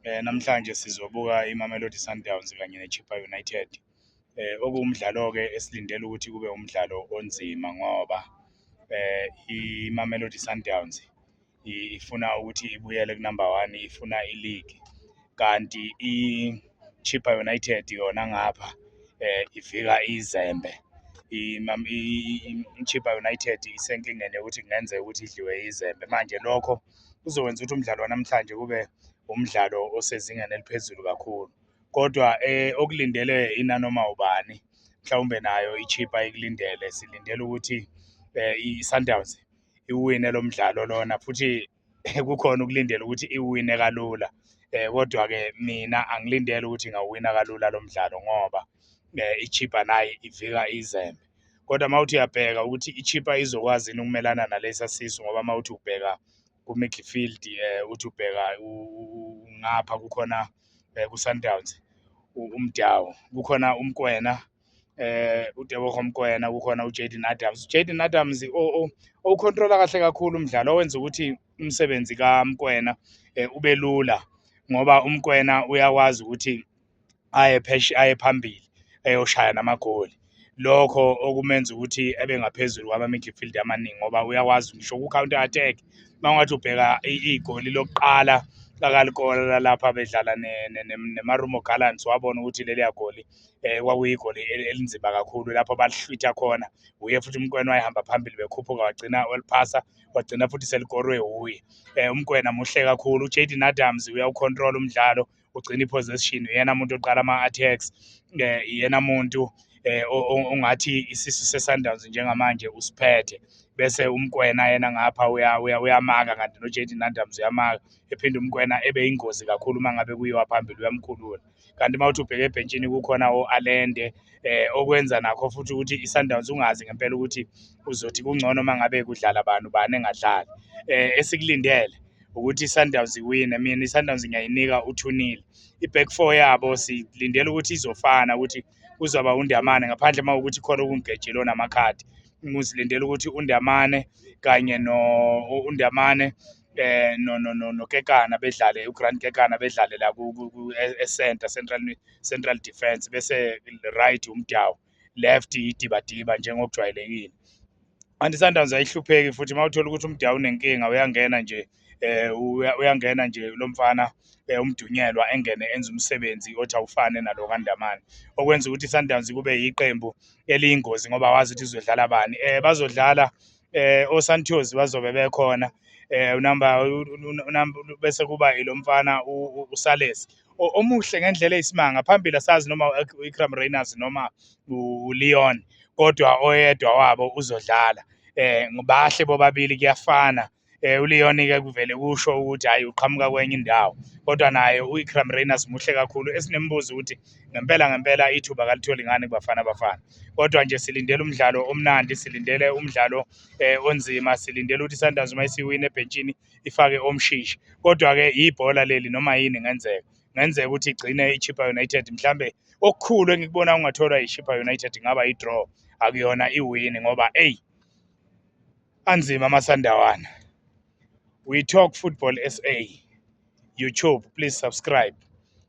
Eh namhlanje sizobuka iMamelodi Sundowns kanye neChippa United. Eh okuwumdlalo ke esilindele ukuthi kube umdlalo onzima ngoba eh iMamelodi Sundowns ifuna ukuthi ibuyele kunumber 1 ifuna ileague kanti iChippa United yona ngapha eh ivika izembe iChippa United isenkingeni yokuthi kungenzeka ukuthi idliwe izembe manje lokho kuzokwenza ukuthi umdlalo wanamhlanje kube umdlalo osezingeni eliphezulu kakhulu kodwa eh, okulindele inanoma ubani mhlawumbe nayo ichipa ikulindele silindele ukuthi eh, i-sundowns iwine lo mdlalo lona futhi kukhona ukulindela ukuthi iwine kalula eh kodwa ke mina angilindele ukuthi ngawina kalula lo mdlalo ngoba eh ichipa nayi ivika izembe kodwa uma uthi uyabheka ukuthi ichipa izokwazi yini ukumelana nalesa sisu ngoba uma uthi ubheka ku-midfield um uthi ubheka ngapha kukhona um ku-sundowns umdawu kukhona umkwena eh uDeboho Mkwena kukhona uJaden Adams uJaden Adams owukhontrola kahle kakhulu umdlalo owenza ukuthi umsebenzi kaMkwena eh, ubelula ngoba umkwena uyakwazi ukuthi aye pheshe aye phambili eyoshaya namagoli lokho okumenza ukuthi ebe ngaphezulu kwama-midfield amaningi ngoba uyakwazi ngisho ku-counter attack uma ungathi ubheka igoli lokuqala lakalikora lapha bedlala nemarumo gallants wabona ukuthi leliya goli um kwakuyigoli elinzima kakhulu lapho balihlwitha khona wuye futhi umkwena wayehamba phambili bekhuphuka wagcina waliphasa wagcina futhi selikorwe wuye um umkwena muhle kakhulu ujaden adams uyawukhontrola umdlalo ugcina i-possession uyena muntu oqala ama-attacks um eh, iyena muntu um ongathi isisu se-sundowns njengamanje usiphethe bese umkwena yena ngapha uyamaka kanti no-jade nandams uyamaka ephinde umkwena ebe yingozi kakhulu uma ngabe kuyiwa phambili uyamkhulula kanti uma uthi ubheke ebhentshini kukhona o-alende eh okwenza nakho futhi ukuthi i-sundowns ungazi ngempela ukuthi uzothi kungcono uma ngabe kudlala bani ubani engadlali um esikulindele ukuthi iSundowns iwine mina iSundowns ngiyayinika uthunile iback four yabo silindele ukuthi izofana ukuthi kuzoba uNdamane ngaphandle uma ukuthi khona okungigejile onamakhadi ngizilindele ukuthi uNdamane kanye no uNdamane eh no no no no Kekana bedlale uGrant Kekana bedlale la ku e-center central central defense bese right uMdawu left idibadiba njengokujwayelekile anti Sundowns ayihlupheki futhi uma uthola ukuthi umdala unenkinga uyangena nje eh uyangena nje lo mfana eh, umdunyelwa engene enza umsebenzi othi awufane nalo kaNdamane okwenza ukuthi iSundowns kube yiqembu eliyingozi ngoba wazi ukuthi izodlala bani eh bazodlala eh oSantos bazobe bekhona eh unamba unamba bese kuba ilomfana uSales omuhle ngendlela eyisimanga phambili asazi noma uIkram Rayners noma uLeon kodwa oyedwa wabo uzodlala eh ngibahle bobabili kuyafana eh uLeon ke kuvele kusho ukuthi hayi uqhamuka kwenye indawo kodwa naye uIkram Rayners muhle kakhulu esinembuzo ukuthi ngempela ngempela ithuba kalitholi ngani kubafana abafana kodwa nje silindele umdlalo omnandi silindele umdlalo eh, onzima silindele ukuthi Sundowns uma isiwina ebhentshini ifake omshishi kodwa ke ibhola leli noma yini ngenzeka ngenzeka ukuthi igcine iChippa United mhlambe okukhulu engikubona ungatholwa iChippa United ngaba idraw akuyona iwin ngoba ey anzima amasandawana we talk football sa youtube please subscribe